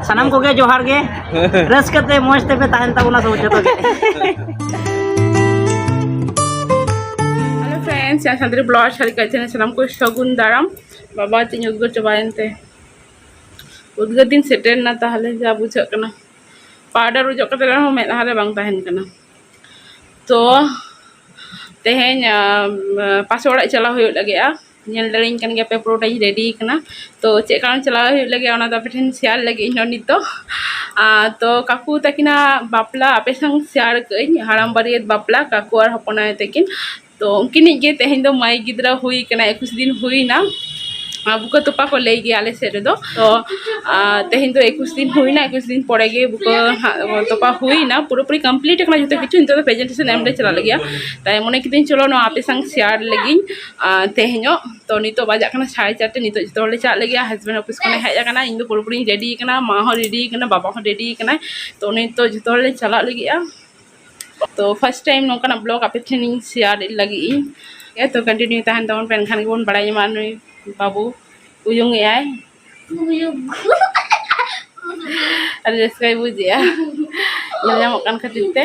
ᱥᱟᱱᱟᱢ ᱠᱚᱜᱮ ᱡᱚᱦᱟᱨ ᱜᱮ ᱨᱟᱹᱥᱠᱟᱹ ᱛᱮ ᱢᱚᱡᱽ ᱛᱮᱯᱮ ᱛᱟᱦᱮᱱ ᱛᱟᱵᱚᱱᱟ ᱥᱚᱵ ᱡᱚᱛᱚ ᱜᱮ ᱥᱮ ᱥᱟᱱᱛᱟᱲᱤ ᱵᱞᱚᱜ ᱥᱟᱹᱨᱤ ᱠᱟᱛᱮ ᱥᱟᱱᱟᱢ ᱠᱚ ᱥᱟᱹᱜᱩᱱ ᱫᱟᱨᱟᱢ ᱵᱟᱵᱟ ᱛᱤᱧ ᱩᱫᱽᱜᱟᱹᱨ ᱪᱟᱵᱟᱭᱮᱱ ᱛᱮ ᱩᱫᱽᱜᱟᱹᱨ ᱫᱤᱱ ᱥᱮᱴᱮᱨ ᱮᱱᱟ ᱛᱟᱦᱚᱞᱮ ᱡᱟ ᱵᱩᱡᱷᱟᱹᱜ ᱠᱟᱱᱟ ᱯᱟᱣᱰᱟᱨ ᱚᱡᱚᱜ ᱠᱟᱛᱮ ᱨᱮᱦᱚᱸ ᱢᱮᱫ ᱞᱟᱦᱟᱨᱮ ᱵᱟᱝ ᱛᱟᱦᱮᱱ ᱠᱟᱱᱟ ᱛᱚ ᱛᱮᱦᱮᱧ ᱯᱟᱥᱮ ᱚᱲᱟᱜ ᱪᱟᱞᱟᱣ ᱦᱩᱭᱩᱜ ᱞᱟᱹᱜᱤᱫᱼᱟ ᱧᱮᱞ ᱫᱟᱲᱮᱭᱟᱹᱧ ᱠᱟᱱ ᱜᱮᱭᱟᱯᱮ ᱯᱩᱨᱟᱹᱴᱟᱧ ᱨᱮᱰᱤ ᱟᱠᱟᱱᱟ ᱛᱳ ᱪᱮᱫ ᱠᱟᱨᱚᱱ ᱪᱟᱞᱟᱣ ᱦᱩᱭᱩᱜ ᱞᱟᱹᱜᱤᱫ ᱚᱱᱟ ᱫᱚ ᱟᱯᱮ ᱴᱷᱮᱱ ᱥᱮᱭᱟᱨ ᱞᱟᱹᱜᱤᱫ ᱤᱧ ᱦᱚᱸ ᱱᱤᱛᱚᱜ ᱟᱨ ᱛᱳ ᱠᱟᱠᱩ ᱛᱟᱹᱠᱤᱱᱟᱜ ᱵᱟᱯᱞᱟ ᱟᱯᱮ ᱥᱟᱶ ᱥᱮᱭᱟᱨ ᱠᱟᱜ ᱟᱹᱧ ᱦᱟᱲᱟᱢ ᱵᱟᱹᱨᱭᱟᱹᱛ ᱵᱟᱯᱞᱟ ᱠᱟᱠᱩ ᱟᱨ ᱦᱚᱯᱚᱱ ᱟᱭᱳ ᱛᱟᱹᱠᱤᱱ ᱛᱳ ᱩᱱᱠᱤᱱᱤᱡ ᱜᱮ ᱛᱮᱦᱮᱧ ᱫᱚ ᱢᱟᱹᱭ ᱜᱤᱫᱽᱨᱟᱹ ᱦᱩᱭ ᱠᱟᱱᱟᱭ ᱮᱠᱩᱥ ᱫᱤᱱ ᱦᱩᱭᱱᱟ ᱟᱨ ᱵᱩᱠᱟᱹ ᱛᱚᱯᱟ ᱠᱚ ᱞᱟᱹᱭ ᱜᱮᱭᱟ ᱟᱞᱮ ᱥᱮᱫ ᱨᱮᱫᱚ ᱛᱳ ᱛᱮᱦᱮᱧ ᱫᱚ ᱮᱠᱩᱥ ᱫᱤᱱ ᱦᱩᱭᱱᱟ ᱮᱠᱩᱥ ᱫᱤᱱ ᱯᱚᱨᱮ ᱜᱮ ᱵᱩᱠᱟᱹ ᱦᱟᱸᱜ ᱛᱚᱯᱟ ᱦᱩᱭᱱᱟ ᱯᱩᱨᱟᱹᱯᱩᱨᱤ ᱠᱚᱢᱯᱞᱤᱴ ᱟᱠᱟᱱᱟ ᱡᱚᱛᱚ ᱠᱤᱪᱷᱩ ᱱᱤᱛᱚᱜ ᱫᱚ ᱯᱨᱮᱡᱮᱱᱴᱮᱥᱚᱱ ᱮᱢ ᱞᱮ ᱪᱟᱞᱟᱜ ᱞᱟᱹᱜᱤᱫᱼᱟ ᱛᱟᱭ ᱢᱚᱱᱮ ᱠᱤᱫᱟᱹᱧ ᱪᱚᱞᱚ ᱱᱚᱣᱟ ᱟᱯᱮ ᱥᱟᱶ ᱥᱮᱭᱟᱨ ᱞᱮᱜᱤᱧ ᱛᱮᱦᱮᱧᱚᱜ ᱛᱚ ᱱᱤᱛᱚᱜ ᱵᱟᱡᱟᱜ ᱠᱟᱱᱟ ᱥᱟᱲᱮ ᱪᱟᱨᱴᱮ ᱱᱤᱛᱚᱜ ᱡᱚᱛᱚ ᱦᱚᱲᱞᱮ ᱪᱟᱞᱟᱜ ᱞᱟᱹᱜᱤᱫᱼᱟ ᱦᱟᱥᱵᱮᱱᱰ ᱚᱯᱷᱤᱥ ᱠᱷᱚᱱᱮ ᱦᱮᱡ ᱟᱠᱟᱱᱟ ᱤᱧᱫᱚ ᱯᱩᱨᱟᱹᱯᱩᱨᱤᱧ ᱨᱮᱰᱤ ᱟᱠᱟᱱᱟ ᱢᱟ ᱦᱚᱸ ᱨᱮᱰᱤ ᱟᱠᱟᱱᱟᱭ ᱵᱟᱵᱟ ᱦᱚᱸ ᱨᱮᱰᱤ ᱟᱠᱟᱱᱟᱭ ᱛᱚ ᱱᱤᱛᱚᱜ ᱡᱚᱛᱚ ᱦᱚᱲᱞᱮ ᱪᱟᱞᱟᱜ ᱞᱟᱹᱜᱤᱫᱼᱟ ᱛᱚ ᱯᱷᱟᱥᱴ ᱴᱟᱭᱤᱢ ᱱᱚᱝᱠᱟᱱᱟᱜ ᱵᱞᱚᱜᱽ ᱟᱯᱮ ᱴᱷᱮᱱᱤᱧ ᱥᱮᱭᱟᱨ ᱞᱟᱹᱜᱤᱫ ᱤᱧ ᱦᱮᱸ ᱛᱚ ᱠᱚᱱᱴᱤᱱᱤᱭᱩ ᱛᱟᱦᱮᱱ ᱛᱟᱵᱚᱱ ᱯᱮ ᱮᱱᱠᱷᱟᱱ ᱜᱮᱵᱚᱱ ᱵᱟᱲᱟᱭ ᱧᱟᱢᱟ ᱱᱩᱭ ᱵᱟᱹᱵᱩ ᱩᱭᱩᱝ ᱮᱜᱼᱟᱭ ᱟᱹᱰᱤ ᱨᱟᱹᱥᱠᱟᱹᱭ ᱵᱩᱡᱮᱜᱼᱟ ᱧᱮᱞ ᱧᱟᱢᱚᱜ ᱠᱟᱱ ᱠᱷᱟᱹᱛᱤᱨ ᱛᱮ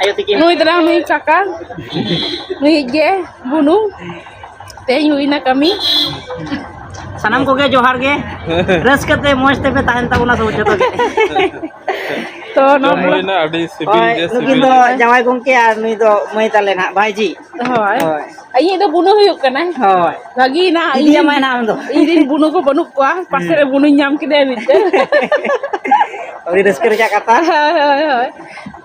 ᱟᱭᱳ ᱛᱤᱠᱤᱱ ᱱᱩᱭ ᱫᱚ ᱱᱟᱦᱟᱜ ᱱᱩᱭ ᱠᱟᱠᱟ ᱱᱩᱭ ᱜᱮ ᱵᱩᱱᱩ ᱛᱮᱦᱮᱧ ᱦᱩᱭᱱᱟ ᱠᱟᱹᱢᱤ ᱥᱟᱱᱟᱢ ᱠᱚᱜᱮ ᱡᱚᱦᱟᱨ ᱜᱮ ᱨᱟᱹᱥᱠᱟᱹ ᱛᱮ ᱢᱚᱡᱽ ᱛᱮᱯᱮ ᱛᱟᱦᱮᱱ ᱛᱟᱵᱚᱱᱟ ᱥᱚᱵ ᱡᱚᱛᱚ ᱜᱮ ᱛᱚ ᱡᱚᱢ ᱱᱚᱣᱟ ᱵᱞᱚᱜ ᱦᱩᱭᱱᱟ ᱟᱹᱰᱤ ᱥᱤᱵᱤᱞ ᱦᱳᱭ ᱜᱮ ᱱᱩᱠᱤᱱ ᱥᱤᱵᱤᱞ ᱫᱚ ᱡᱟᱶᱟᱭ ᱜᱚᱝᱠᱮ ᱟᱨ ᱱᱩᱭ ᱫᱚ ᱢᱟᱹᱭ ᱛᱟᱞᱮ ᱱᱟᱦᱟᱜ ᱵᱷᱟᱭᱡᱤ ᱦᱳᱭ ᱦᱳᱭ ᱤᱧᱤᱡ ᱫᱚ ᱵᱩᱱᱩ ᱦᱩᱭᱩᱜ ᱠᱟᱱᱟᱭ ᱦᱳᱭ ᱵᱷᱟᱹᱜᱤ ᱱᱟ ᱤᱫᱤ ᱟᱢᱟᱭ ᱱᱟᱦᱟᱜ ᱟᱢ ᱫᱚ ᱤᱧ ᱨᱮᱱ ᱵᱩᱱᱩ ᱠᱚ ᱵᱟᱹᱱᱩᱜ ᱠᱚᱣᱟ ᱯᱟᱥᱮ ᱨᱮ ᱵᱩᱱᱩᱧ ᱧᱟᱢ ᱠᱮᱫᱮᱭᱟ ᱢᱤᱫᱴᱮᱱ ᱟᱹᱰᱤ ᱨᱟᱹᱥᱠᱟᱹ ᱨᱮᱭᱟᱜ ᱠᱟᱛᱷᱟ ᱦᱳᱭ ᱦᱳᱭ ᱦᱳᱭ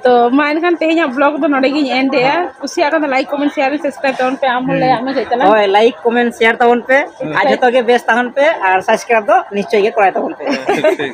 ᱛᱚ ᱢᱟ ᱮᱱᱠᱷᱟᱱ ᱛᱮᱦᱮᱧᱟᱜ ᱵᱞᱚᱜᱽ ᱫᱚ ᱱᱚᱰᱮ ᱜᱤᱧ ᱮᱱᱰ ᱮᱫᱟ ᱠᱩᱥᱤᱭᱟᱜ ᱠᱷᱟᱱ ᱫᱚ ᱞᱟᱭᱤᱠ ᱠᱚᱢᱮᱱᱴ ᱥᱮᱭᱟᱨ ᱥᱟᱵᱥᱠᱨᱟᱭᱤᱵ ᱛᱟᱵᱚᱱ ᱯᱮ ᱟᱢ ᱦᱚᱸ ᱞᱟᱹᱭᱟᱜ ᱢᱮ ᱪᱮᱫ ᱛᱟᱞᱟᱝ ᱦᱳᱭ ᱞᱟᱭᱤᱠ ᱠᱚᱢᱮᱱᱴ ᱥᱮᱭᱟᱨ ᱛᱟᱵᱚᱱ ᱯᱮ ᱟᱨ ᱡᱚᱛᱚ ᱜᱮ ᱵᱮᱥ ᱛᱟᱦᱮᱱ ᱯᱮ ᱟᱨ ᱥᱟᱵᱥᱠᱨᱟᱭᱤᱵ ᱫᱚ ᱱᱤᱥᱪᱚᱭ ᱜᱮ ᱠᱚᱨᱟᱭ ᱛᱟᱵᱚᱱ ᱯᱮ ᱴᱷᱤᱠ ᱴᱷᱤᱠ